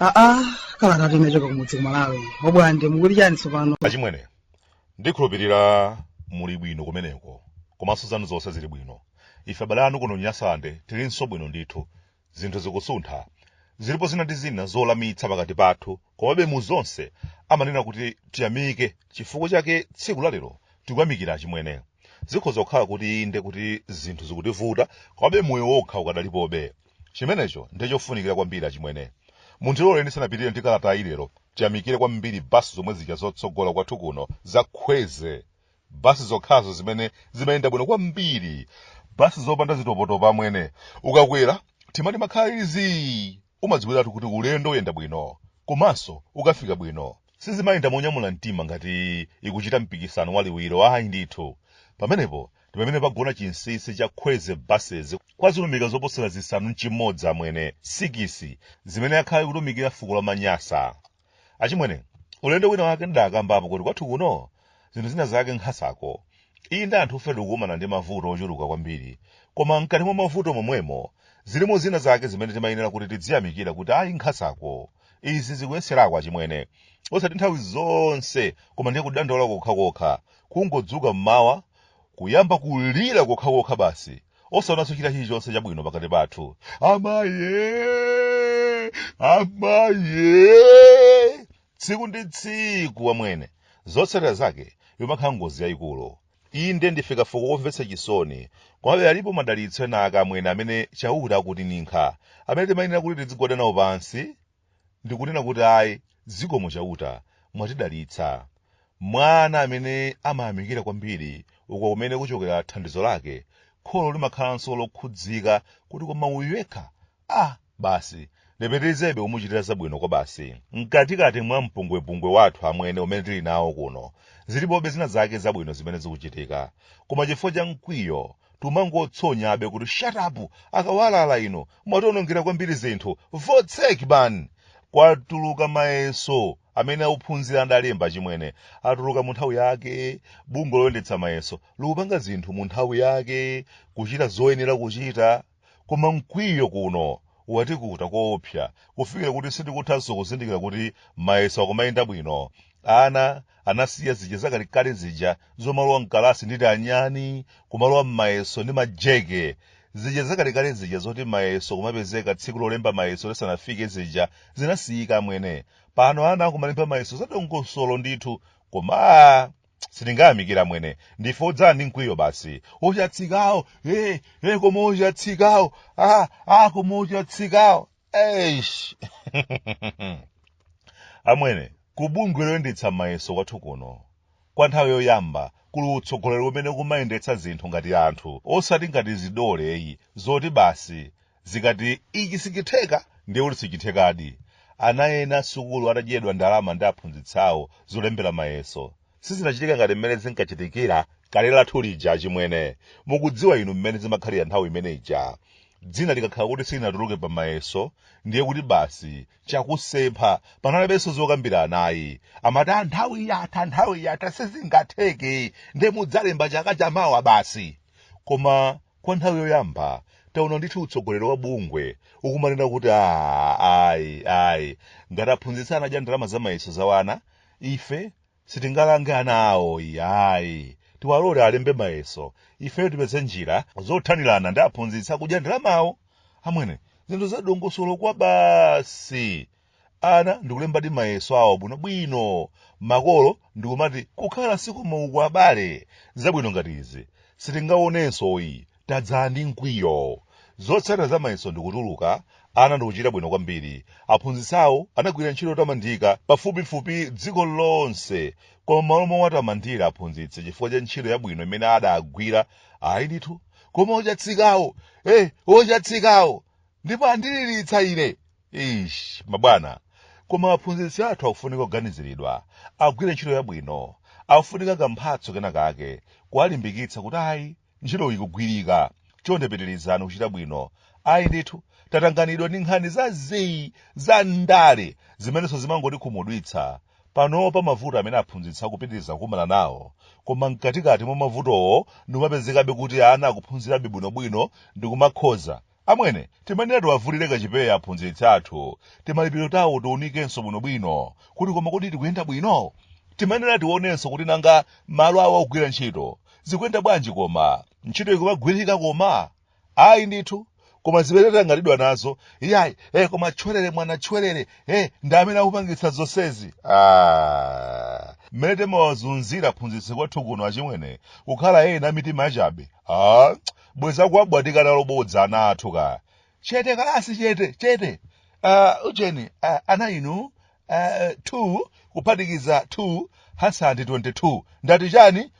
aa kalatatu inachoka kumudzi kumalawi wobwande muli chani tsopano achimwene ndikhulupirira muli bwino kumeneko komanso zanu zonse zili bwino ife abale anu kuno nyasande tilinso bwino ndithu zinthu zikusuntha zilipo zina ndi zina zolawitsa pakati pathu komabe mu zonse amanena kuti tiyamike chifukwa chake tsiku lalero tikuyamikire achimwene zikhoza kukhala kuti inde kuti zinthu zikutivuta komabe moyo wokha ukadalipobe chimenecho ndi chofunikira kwambiri achimwene mundilole ndisanapitire ndi kalatayi lero ndiyamikire kwambiri basi zomwe zija zotsogola kwathu kuno zakhweze basi zokhazo zimene zimayenda bwino kwambiri basi zopanda zitopotopa amwene ukakwera mtima umakhala uli zii umadziwiratu kuti ulendo uyenda bwino komanso ukafika bwino sizimayenda monyamula mtima ngati ikuchita mpikisano waliwiro ayi ndithu pamenepo ndi pamene pagona chinsisi cha khweze buses kwa zilumika zoposera zisanu nchimodzi amwene sikisi zimene akhala akutumikira fuko la manyasa achimwene ulendo wina wake ndidakambapo kuti kwathu kuno zinthu zina zake nkhasako iyi ndi anthufe tikukumana ndi mavuto ochuluka kwambiri koma mkati mwa mavuto momwemo zilimo zina zake zimene timayenera kuti tidziyamikira kuti ayi nkhasako izi zikuyeserako achimwene osati nthawi zonse koma ndiye kudandaula kokhakokha kungodzuka mmawa kuyamba kulira kokhakokha basi osaonanso china chilichonse chabwino pakati pathu amayi amayi tsiku ndi tsiku amwene zotsatira zake imakhala ngozi yayikulu inde ndife kafuko womvetsa chisoni komabe alipo madalitso ena ake amwene amene chauta akutininkha amene timayenera kuti tidzigwada nawo pansi ndikunena kuti ayi zikomo chauta mwatidalitsa mwana amene amayamikira kwambiri uko kumene kuchokera thandizo lake kholo limakhalanso lokhudzika kuti koma uyu yekha ah basi ndipitilizebe kumuchitira zabwino kwabasi mkatikati mwa mpungwepungwe wathu amwene umene tili nawo kuno zilipobe zina zake zabwino zimene zikuchitika koma chifukwa cha mkwiyo tumangotsonyabe kuti shut up akawalala inu mwatiwonongera kwambiri zinthu votsek man kwatuluka mayeso amene ophunzira adalemba achimwene atuluka mu nthawi yake bungwe loyendetsa mayeso likupanga zinthu mu nthawi yake kuchita zoyenera kuchita Koma mkwiyo kuno watikuta koopsa kufikira kuti sitikuthanso kuzindikira kuti mayeso akumayenda bwino. Ana anasiya zija zakalekale zija zomalowa m'kalasi ndi tianyani, kumalowa m'mayeso ndi majeke. Zija zakalekale zija zoti mayeso kumapezeka tsiku lolemba mayeso lisanafike zija zinasiyika amwene. Pano ana akumalemba mayeso zadongosolo ndithu, koma aah! sitingayamikire amwene ndife odzadza ndi mkwiyo basi ochatsikawo hey, hey, koma ochatsikawo ah, ah, koma ochatsikawo eish amwene kubungwe loyendetsa mayeso kwathu kuno kwa nthawi yoyamba kuli utsogoleri umene ukumayendetsa zinthu ngati anthu osati ngati zidole eyi zoti basi zikati ichi sichitheka ndiye kuti sichithekadi ana ena sukulu atadyeredwa ndalama ndi aphunzitsi awo zolembera mayeso sizinachitike ngati mmene zinkachitikira kale lathu lija achimwene mukudziwa inu mmene zimakhalira nthawi imene ija dzina likakhala kuti silinatuluke pa mayeso ndiye kuti basi chakusempha panalibenso zokambirana ayi amati "Ah, nthawi yatha nthawi yatha sizingatheke ndiye mudzalemba chaka chamawa basi koma Kwa nthawi yoyamba taona ndithu utsogoleri wa bungwe ukumanena kuti "Ah, ayi ayi ngati aphunzitsi anadya ndalama za mayeso za wana ife sitingalange ana awo iyayi tiwalole alembe mayeso ifeyo tipeze njira zothanirana ndi aphunzitsi akudya ndalamawo amwene zinthu zadongosolo kwabasi ana ndikulembadi mayeso awo bwinobwino makolo ndikumati kukhala si kumeneku abale zabwino ngati izi sitingaonenso ayi tadzadza ndi mkwiyo zotsatira za mayeso ndikutuluka ana ndikuchita bwino kwambiri aphunzitsi awo anagwira ntchito yotamandika pafupifupi dziko lonse koma malo mowatamandira aphunzitsi chifukwa cha ntchito yabwino imene adagwira ayi ndithu koma ochatsikawo eh ochatsikawo ndipo andiliritsa ine eish mabwana koma aphunzitsi athu akufunika kuganiziridwa agwire ntchito yabwino akufunika kamphatso kena kake kuwalimbikitsa kuti ayi ntchito ikugwirika chonde pitirizani kuchita bwino ayi ndithu tatanganidwa ndi nkhani za zii za ndale zimenenso zimangotikhumudwitsa panopa mavuto amene aphunzitsi akupitiriza kukumana nawo koma mkatikati mwa mavutowo ndikumapezekabe kuti ana akuphunzirabe bwinobwino ndikumakhoza Amwene, timanena tiwavulire kachipewa aphunzitsi athu, timalipiro tawo tiunikenso bwinobwino, kuti koma kodi tikuyenda bwino? Timanena tionenso kuti nanga malo awo ogwirira ntchito, zikuyenda bwanji koma? Ntchito ikumagwirika koma? Ayi ndithu, koma zimene tatanganidwa nazo, iyayi, eh koma tchwerere mwana tchwerere, eh ndi amene akupangitsa zonsezi. Ah, mmene timawazunzira aphunzitsi kwathu kuno achimwene, kukhala ena a mitima yachabe, ah, bwenzi akuwabwatika nalo bodza ana athu ka chete kalasi chete chete uh, ujeni uh, ana inu uh, 2 kuphatikiza 2 hasandi 22 ndati chani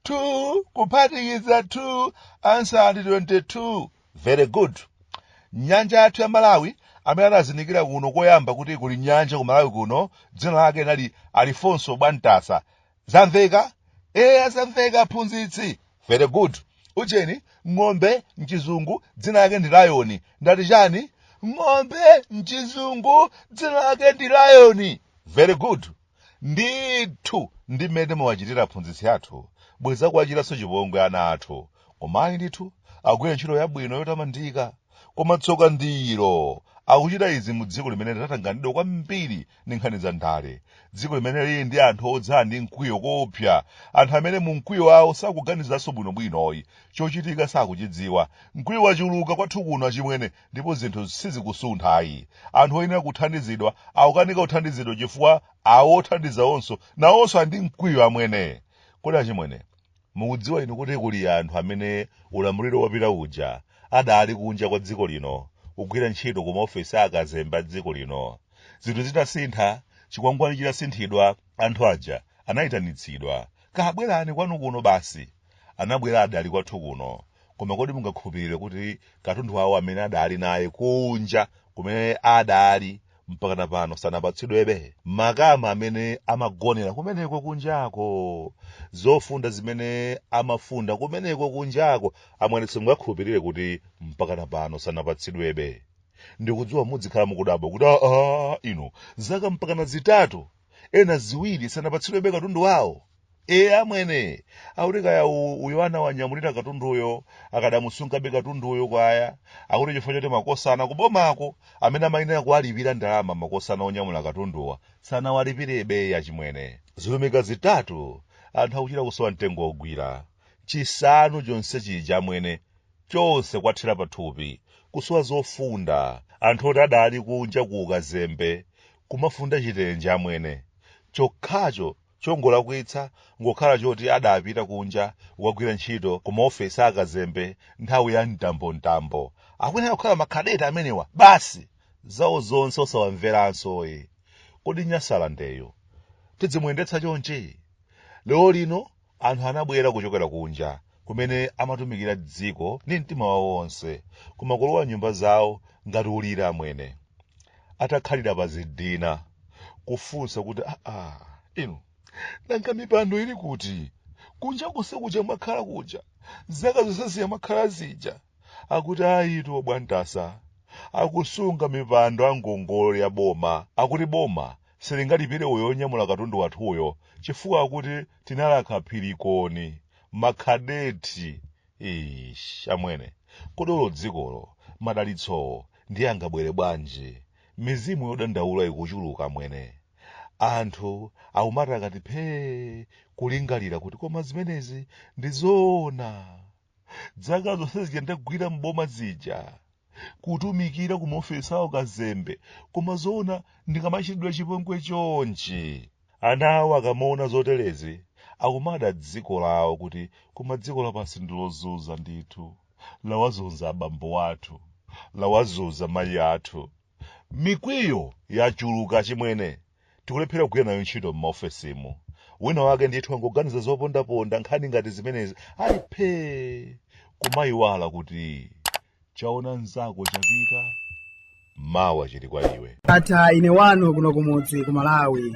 2 kuphatikiza 2 hasandi 22 very good nyanja yathu ya malawi amene anazindikira kuno koyamba kuti kuli nyanja ku malawi kuno dzina lake nali alifonso bwantasa zamveka eya zamveka aphunzitsi very good ujeni ng'ombe mchizungu dzina lake ndi lion ndati chani ng'ombe mchizungu dzina lake ndi lion very good ndithu ndi mmene mawachitira aphunzitsi athu bwenzi akuwachitanso chipongwe ana athu komayi ndithu agwira ntchito yabwino yotamandika koma tsoka ndilo akuchita izi mu dziko limene linatanganidwa kwambiri ndi nkhani za ndale dziko limene lili ndi anthu odzala ndi mkwiyo koopsa anthu amene mu mkwiyo wawo sakuganizanso bwinobwinoyi chochitika sakuchidziwa mkwiyo wachuluka kwathu kuno achimwene ndipo zinthu sizikusuntha ayi anthu oyenera kuthandizidwa akukanika kuthandizidwa chifukwa ao othandizawonso nawonso ali ndi mkwiyo amwene kodi achimwene Mukudziwa inu kuti kuli anthu amene ulamuliro wapita uja anali kunja kwa dziko lino kugwira ntchito ku maofesi a akazembe a dziko lino. Zinthu zitasintha, chikwangwani chitasinthidwa, anthu aja anaitanitsidwa. Ka bwerani kwanu kuno basi! Anabwera adaali kwathu kuno. Koma kodi mungakhulupirire kuti katundu wawo amene adaali naye kunja kumene adaali mpakana pano sanapatsidwebe makama amene amagonera kumeneko kunjako zofunda zimene amafunda kumeneko kunjako amwene simungakhulupirire kuti mpakana pano sanapatsidwebe ndikudziwa mudzikhala mukudabwa kuti aa inu zaka mpakana zitatu ena ziwiri sanapatsidwebe katundu wawo ee amwene akuti kaya u- uyo anawanyamulira katunduyo akadamusungabe katunduyo kwao akuti chifukwa choti makosana kubomako amene amayenera kuwalipira ndalama makosana onyamula katunduwa sanawalipirebeyi achimwene zilumika zitatu anthu akuchita kusowa mtengo wogwira chisanu chonse chija amwene chonse kuwathera pathupi kusowa zofunda anthu oti adali kunja ku ukazembe kumafunda chitenje amwene chokhacho Chongolakwitsa n'kukhala choti adapita kunja kukagwira ntchito ku maofesi a akazembe nthawi ya mtambontambo. Akuyenera kukhala ma cadet amenewa basi! Zawo zonse osawamveransoyi! Kodi Nyasalandeyu tidzimuyendetsa chonchi? Lero lino anthu anabwera kuchokera kunja kumene amatumikira dziko ndi mtima wawo wonse koma kulowa nyumba zawo ngati kulira amwene atakhalira pa zidina kufunsa kuti aa ino nanga mipando ili kuti kunja konse kuja mwakhala kuja zaka zonse zija mwakhala zija akuti ayitu obwantsa akusunga mipando a ngongole ya boma akuti boma silingalipire uyo onyamula katundu wathuyo chifukwa akuti tinalakha phirikoni makhadeti ish amwene kodi olo dzikolo madalitsowo ndiye angabwere bwanji mizimu yodandaula ikuchuluka amwene anthu aumati akati phee kulingalira kuti koma zimenezi ndi zoona zaka zonse zija ndagwira m'boma zija kutumikira ku maofesi awo kazembe koma zoona ndikamachitidwa chipongwe chonchi ana awo akamaona zoterezi akumada dziko lawo kuti koma dziko lapansi ndilozunza ndithu lawazunza abambo athu lawazunza mayi athu Mikwiyo yachuluka achimwene. Tikulephera kugwira nayo ntchito m'maofesimu. Wina wake ndithu angoganiza zopondaponda nkhani ngati zimenezi ali phee kumaiwala kuti chaona mnzako chapita mawa chili kwa iwe. Ndatha ine wanu kuno kumudzi ku Malawi.